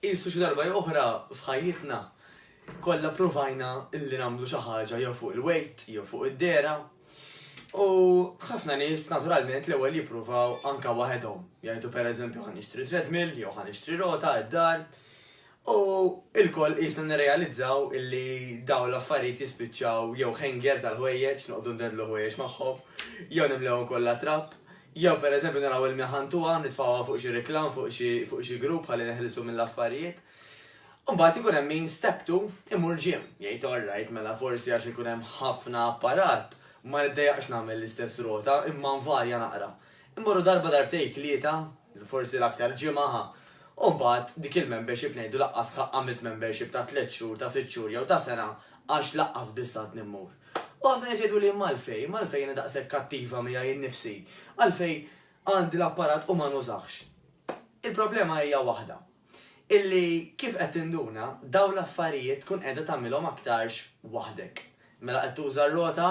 Qisu xi darba jew oħra f'ħajjitna kollha provajna illi nagħmlu xi ħaġa jew fuq il-wejt jew fuq id-dera. U ħafna nies naturalment l-ewwel jippruvaw anka waħedhom. Jgħidu pereżempju ħan nixtri treadmill jew ħan nixtri rota id-dar. U il-koll qisna nirrealizzaw illi daw l-affarijiet jispiċċaw jew hanger tal-ħwejjeġ, noqogħdu ndedlu ħwejjeġ magħhom, jew nimlewhom kollha trapp, Jew pereżempju naraw ilmja ħantuha, nitfgħuha fuq xi reklam, fuq xi fuq xi group ħalli neħilsu mill-affarijiet. U mbagħad ikun hemm min step two imur gym, jgħid all right mela forsi għax ikun hemm ħafna apparat ma niddejjaqx nagħmel l-istess rota imma nvarja naqra. Immorru darba darbtejn tlieta, forsi l-aktar ġimgħa ħa. U mbagħad dik il-membership ngħidu laqqas ħa għamilt membership ta' tliet xhur, ta' sitt xhur jew ta' sena għax laqqas biss għadni mmur. U ħafna nies jgħidu li imma għalfejn, imma għalfejn jiena daqshekk kattiva miegħi nnifsi, għalfejn għandi l-apparat u ma nużax. Il-problema hija waħda, illi kif qed tinduna dawn l-affarijiet tkun qiegħda tagħmilhom aktarx waħdek. Mela qed tuża r-rota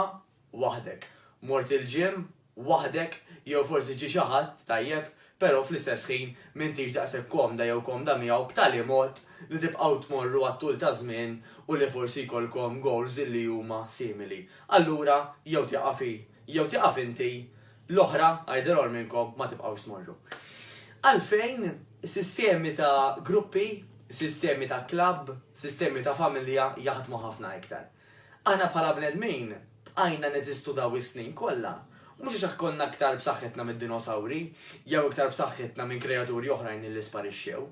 waħdek, mort il-ġim waħdek jew forsi ġie xi ħadd tajjeb però fl-istess ħin m'intix daqshekk komda jew komda miegħu b'tali mod li tibqgħu tmorru għat-tul taż-żmien u li forsi jkollkom goals li huma simili. Allura jew tieqaf hi jew tieqaf inti, l-oħra, either or minnkom ma tibqgħux tmorru. Għalfejn sistemi ta' gruppi, sistemi ta' klabb, sistemi ta' familja jaħdmu ħafna iktar? Aħna bħala bnedmin bqajna neżistu dawn is-snin kollha, mhux għax konna iktar b'saħħitna mid-dinosawri jew iktar b'saħħitna minn kreaturi oħrajn illi sparixxew,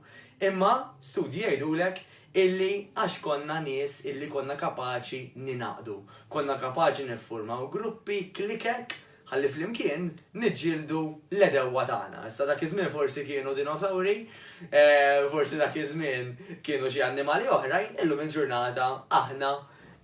imma studji jgħidulek illi għax konna nies illi konna kapaċi ningħaqdu, konna kapaċi niffurmaw gruppi, klikek, Ħalli flimkien niġġieldu l-għedewwa tagħna. Issa dak iż-żmien forsi kienu dinosawri, forsi dak iż-żmien kienu xi annimali oħrajn, illum il-ġurnata aħna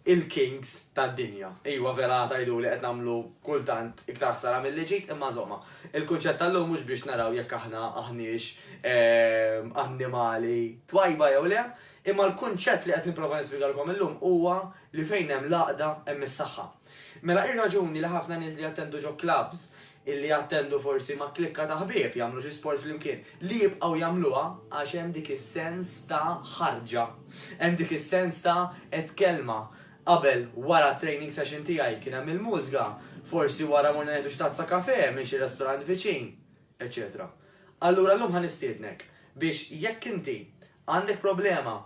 il-kings tad-dinja. Iwa vera tajdu li qed nagħmlu kultant iktar ħsara milli ġid imma żomma. Il-kunċett tal-lum mhux biex naraw jekk aħna aħniex ehm, annimali twajba jew le, imma l-kunċett li qed nipprova nispjegalkom illum huwa li fejn hemm l-għaqda hemm is-saħħa. Mela ir-raġuni li ħafna nies li jattendu ġo klabbs, li jattendu forsi ma' klikka ta' ħbieb, jagħmlu xi sport flimkien, li jibqgħu jagħmluha għax hemm dik is-sens ta' ħarġa. Hemm dik is-sens ta' għedt kelma. Qabel, wara t-training session tiegħi kien hemm il-mużga, forsi wara morna nieħdu xi tazza kafè minn xi restorant viċin, eċċetera. Allura llum ħa nistiednek biex jekk inti Għandek problema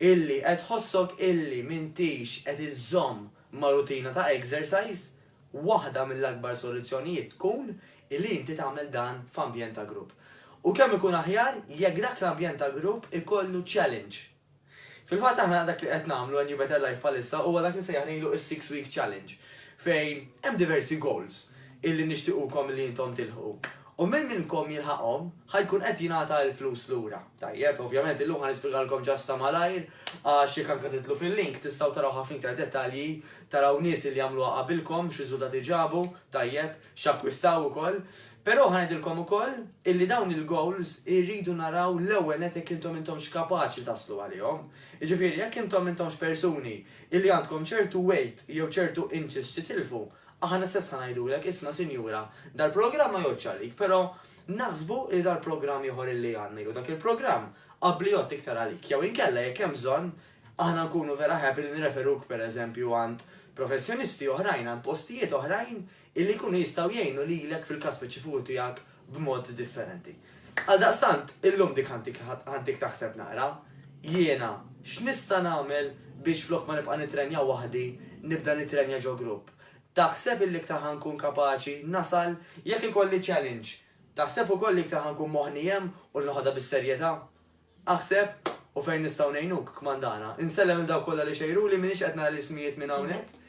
illi qed tħossok illi m'intix qed iżżomm ma' rutina ta' exercise? Waħda mill-akbar soluzzjonijiet tkun illi inti tagħmel dan f'ambjent ta' grupp. U kemm ikun aħjar jekk dak l-ambjent ta' grupp ikollu challenge. Fil-fatt aħna dak li qed nagħmlu għal New Better Life bħalissa huwa dak li nsejjaħ ngħidlu is-Six Week Challenge fejn hemm diversi goals illi nixtiequkom li intom tilħqu. U min minnkom jilħaqhom, ħa jkun qed jingħata l-flus lura. Tajjeb, ovvjament illum ħa nispjegalkom ġast ta' malajr, għax jekk anke tidħlu fil-link tistgħu taraw ħafna iktar dettalji, taraw nies li għamluha qabilkom, x'riżultati ġabu, tajjeb, x'akkwistaw ukoll. Però ħa ngħidilkom ukoll illi dawn il-goals irridu naraw l-ewwel nett jekk intom intomx kapaċi taslu għalihom. Jiġifieri jekk intom intomx persuni illi għandkom ċertu weight jew ċertu inches x'titilfu, Aħna stess ħa ngħidulek, isma' sinjura, dal-programm ma jgħoddx għalik, però naħsbu li dal-programm ieħor illi għandna jew dak il-programm qabbli jgħodd iktar għalik. Jew inkella jekk hemm bżonn, aħna nkunu vera happy li nirreferuk pereżempju għand professjonisti oħrajn, għand postijiet oħrajn illi jkunu jistgħu jgħinu lilek fil-każ speċifiku tiegħek b'mod differenti. Għaldaqstant, illum dik ħantik taħseb naqra, jiena x'nista' nagħmel biex flok ma nibqa' nitrenja waħdi, nibda nitrenja ġo grupp? Taħseb illi iktar ħa nkun kapaċi nasal jekk ikolli challenge? Taħseb ukoll li iktar ħa nkun moħħni hemm u noħodha bis-serjetà? Aħseb, U fejn nistgħu ngħinuk, kmandana? Insellem lil dawk kollha li xejruli, m'iniex qed nara l-ismijiet minn hawnhekk.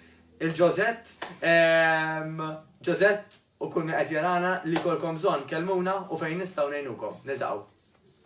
Il-Ġożett, ehm, Ġożett u kull min qed jarana li jkollkom bżonn, kellmuna u fejn nistgħu ngħinukom. Niltaqgħu.